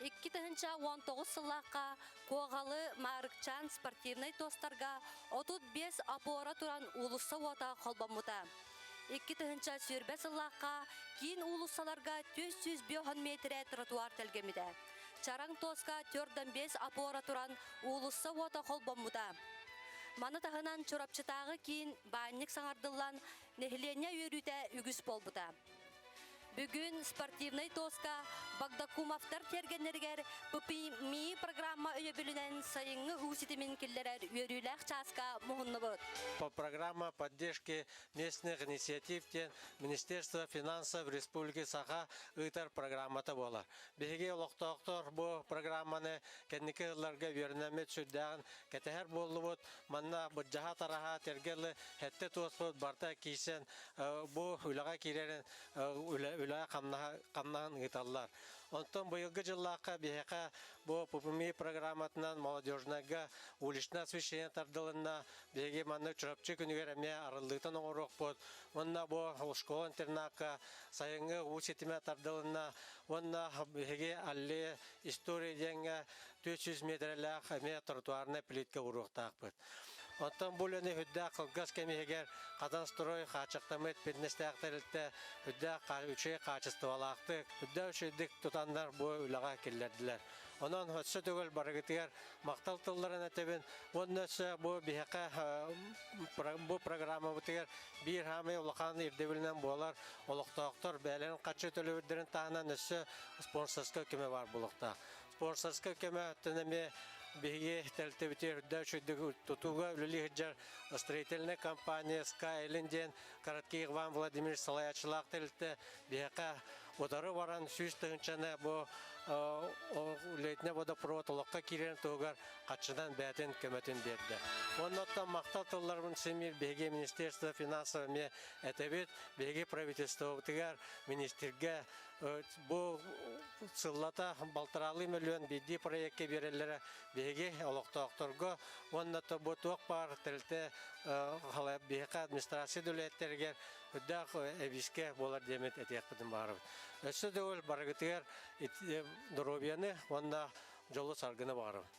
Икки тыһыынча уон тоҕус сыллаахха Куоҕалы Маарыкчаан спортивнай туостарга отут биэс опора туран уулусса уота холбоммута. Икки тыһыынча сүүрбэ сыллаахха киин уулуссаларга түс сүүс биоһон метрэ тротуар тэлгэммитэ. Чараҥ туоска төрдөн бес опора туран уулусса уота холбоммута. Маны таһынан Чурапчытааҕы киин баанньык саҥардыллан, нэһилиэнньэ үөрүүтэ үгүс буолбута. Бүгүн спортивнай туоска Багдакумовтар тиэргэннэригэр ППМИ программа өйөбүлүнэн сайыҥҥы уу ситимин киллэрэр үөрүүлээх чааска муһуннубут. По программа поддержки местных инициатив диэн Министерство финансов Республики Саха ыытар программата буолар. Биһиги олохтоохтор бу программаны кэнники сылларга үөрэнэммит сүрдээҕин кэтэһэр буоллубут. Манна бырдьаһа-тараһа тэргэ лы эттэ-туоспут барта киирсэн бу үлэҕэ киирэрин үлэ хамнаһын ыыталлар. Онтон быйылгы дьыллаахха биһиэхэ бу ППМИ программатынан молодежнайга уличнай освещение тардылынна. Биһиги манна Чурапчы күнүгэр эмиэ арыллыытын оҥоруохпут. Уонна бу школа-интернакка сайыҥҥы уу ситимэ тардылынна. Уонна биһиги Аллея история диэҥҥэ Түөрт сүүс миэтэрэлээх эмиэ тротуарнай плитка уруохтаахпыт. Оттон бу үлэни үрдээх кылгас кэм иһигэр кадастрой, хааччахтаммыт бизнестээх тэрилтэ үрдээх үчүгэй хаачыстыбалаахтык, үрдээх үчүгэйдик тутаннар бу үлэҕэ киллэрдилэр. Онон өссө төгүл барыгытыгар махтал тылларын этэбин уонна өссө бу биһиэхэ бу программабытыгар биир хаамай улахан ирдэбилинэн буолар олохтоохтор бэйэлэрин хаччы төлөбүрдэрин таһынан өссө спонсорскай көмө баар буолуохтаах. Спонсорскай көмө өттүн эмиэ биһиги тэрилтэбит үрдэ үчүйдүк тутууга үлэлии сылдьар строительнай компания Skyline диэн короткий Иван Владимирович салайааччылаах тэрилтэ биһиэхэ удары баран сүүс тыһыынчаны бу лейтенant водопровод олоххо киирэн туһугар хаччынан бэйэтин көмөтүн биэрдэ. Онно оттон махтал тылларбын симиир биһиги министерство финансов эмиэ этэбит, биһиги правительствобытыгар, министргэ Бу сыллата балтараалыы мөлүөн биирдии проекка биэрэллэрэ биһиги олохтоохторго уонна бу туох баар тэрилтэ биһиэхэ администрация үлэһиттэригэр үрдээх эбиискэ буолар диэмит этиэхпитин баарыбыт. Өссө да ол барыгытыгар доруобуйаны уонна дьолу саргыны баарыбыт.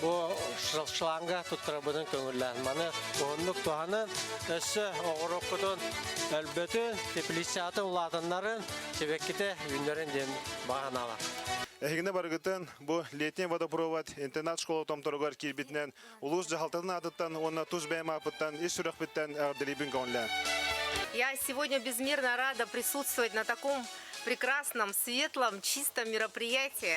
Бу шланга туттарабытын көҥүллээн. Маны уһуннук туһанан, өссө оҕороккутун өлбөтүн, теплицатын улаатыннарын, сибэккитэ үүннэрин диэн баҕаналар. Эһигини барыгытын бу Летний водопровод интернат-школа томторугар киирбитинэн улуус дьаһалтатын аатыттан уонна тус бэйэм ааппыттан ис сүрэхпиттэн эҕэрдэлиибин көҥүллээн. Я сегодня безмерно рада присутствовать на таком прекрасном, светлом, чистом мероприятии.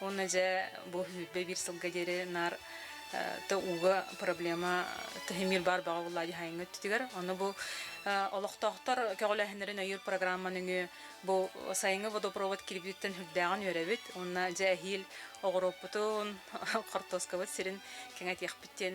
Уонна дьэ бу сүүрбэ биир сылга диэри наар то ууга проблема тыһымир бар баҕа булла дихайыҥҥыт тигер ону бу олохтоохтор көҕөлөһүннэрин өйүр программаны үҥү бу сайыҥҥы водопровод кирбиттен хүрдээҕин үөрэбит уонна дьэ эһиил оҕуруоппутун хортуоскабыт сирин кэҥэтиэхпиттин